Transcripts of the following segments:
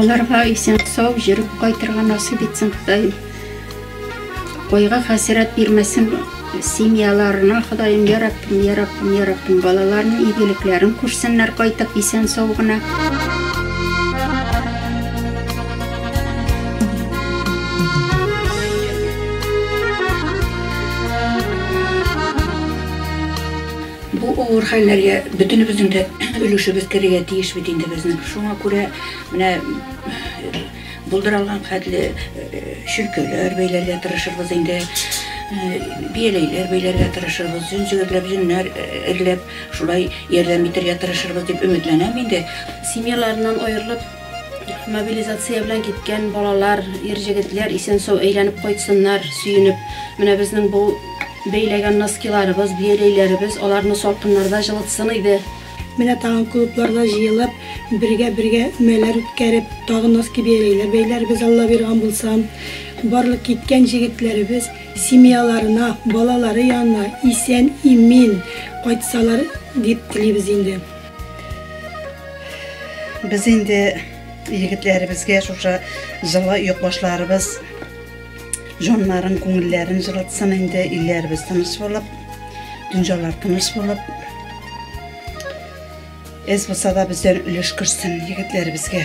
Аларга исән сау җөреп кайтырга насыйп итсен Ходаем. Койга хәсрәт бирмәсен семьяларына Ходаем, я Раббым, я Раббым, я Раббым, балаларның игелекләрен күрсеннәр кайтып исән сау гына. Бу авыр хәлләргә бөтенебезнең дә өлешебез керергә тиеш бит инде безнең. Шуңа күрә менә булдыра алган хәтле чөлкәләр бәйләргә тырышырбыз инде, бияләйләр бәйләргә тырышырбыз, җен җегетләп, җеннәр эрләп, шулай ярдәм итәргә тырышырбыз дип өметләнәм инде. Семьяларыннан аерылып. Мобилизация белән киткән балалар, ир җегетләр исән-сау әйләнеп кайтсыннар, сөенеп. Менә безнең бу бәйләгән носкиларыбыз, бияләйләребез аларны салкыннарда җылытсын иде. Менә тагын клубларда җыелып, бергә-бергә өмәләр үткәреп, тагын носки-бияләйләр бәйләрбез, Алла бирган булса. Барлык киткән җегетләребез семьяларына, балалары янына исән-имин кайтсалар дип телибез инде. Без инде егетләребезгә шушы җылы йөкбашларыбыз җаннарын, күңелләрен җылытсын инде, илләребез тыныч булып, дөньялар тыныч булып. Эз булса да бездән өлеш керсен егетләребезгә.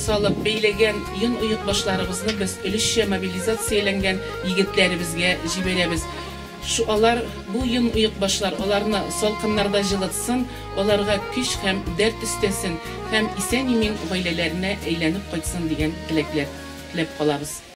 салып бәйләгән йон-оекбашларыбызны без өлешчә мобилизацияләнгән егетләребезгә җибәрәбез. Шу алар бу йон-оекбашлар аларны салкыннарда җылытсын, аларга көч һәм дәрт өстәсен һәм исән-имин гаиләләренә әйләнеп кайтсын дигән теләкләр теләп калабыз.